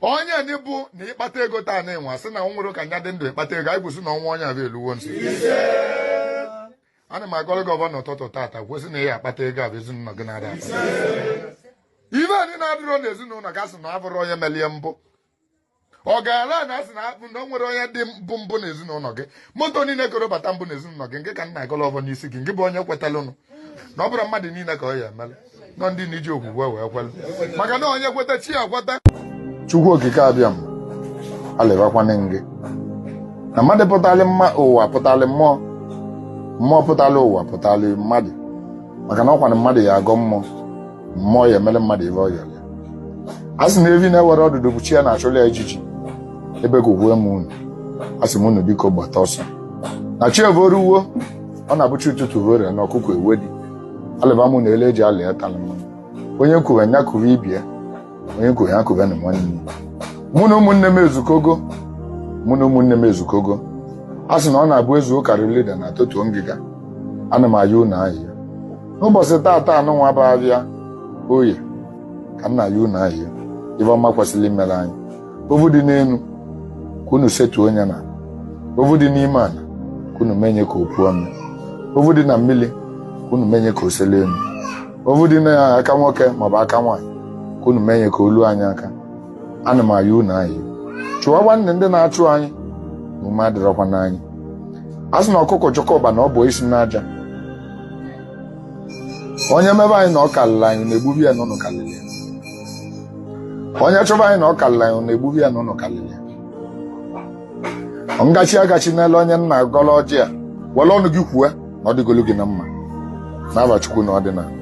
onye ndị bụ na ịkpata ego taa na ịnwa sị na nwere ka nya dị ndụ ịkpata ego anyị kwụsị na ọnwa onye abịa eluwo nso ana m agọrọ gị ọvọ na ụtụtụ tata kwụsị na ya akpata ego abụ ezinụlọ gị na-ada ibe anyị na-adịrọ n'ezinụlọ ga sị na abụrụ onye melie mbụ ọ gaala na asị na akpụ na o nwere onye dị mbụ mbụ n'ezinụlọ gị moto niile koro bata mbụ n'ezinụlọ gị nke ka m na-agọlọ ọvọ n'isi gị nke bụ onye kwetalụnụ na ọ bụrụ mmadụ niile ka ọ ya emelụ nọ ndị na iji okwukwe wee kwere maka na onye kweta chi ya kweta chukwu okike abịama alịbakwana gị na mmadụ pụtali mma ụwa pụtali mmụọ mmụọ pụtali ụwa pụtali mmadụ maka na ọkwana mmadụ ya agọ mmụọ mmụọ ya emere mmadụ ive ọ yọrọ ya a sị na evi na-enwerọ ọdụdụ bụ chi ya na-achụlụ ya ijiji ebekuwe m unu a sị m unu biko gbata ọsọ na chi evoruwo ọ na-abụ chi ụtụtụ vore na ọkụkọ ewedi alịba mụ unu elu e ji alị atalị mmanụ onye kwuwe ya kwuwe ibie onye kwuwe ya kwuwe na nwanne mụ na ụmụnne m ezukogo mụ na ụmụnne m ezukogo a sị na ọ na-abụ e zu ka a ra eli udene a totuo ngịga ana m ayọ unu ayịyọ n'ụbọchị taata anụnwa bụ avịa oye ka m na-ayọ unu ayịyọ ive ọma kwesịrị imere anyị ovu dị n'elu ka unu setuo nye n'ala ovu dị n'ime ala ka unu menye ka o puo ome ovu dị na mmiri ka unu menye ka o sele elu ovu dị na aka nwoke maọbụ aka nwaanyị ka unu menye ka o lue anyị aka ana m ayọ unu ayọ chụwanụ ndị na-achụ anyị na ume adịrọkwa n'anyị a sị na ọkụkọ chọkọba na ọ bụ isi n'aja onye mebe anyị na ọ kalịlị anyị unu egbube ya na unu kalịlị ya onye chọba anyị na ọ kalịlị anyị unu egbube ya na unu kalịlị ya ngachi agachi n'elu onye m na-agọlụ ọjị a were ọnụ gị kwue na ọ dịgolu gị na mma n'ava Chukwu na ọdịnala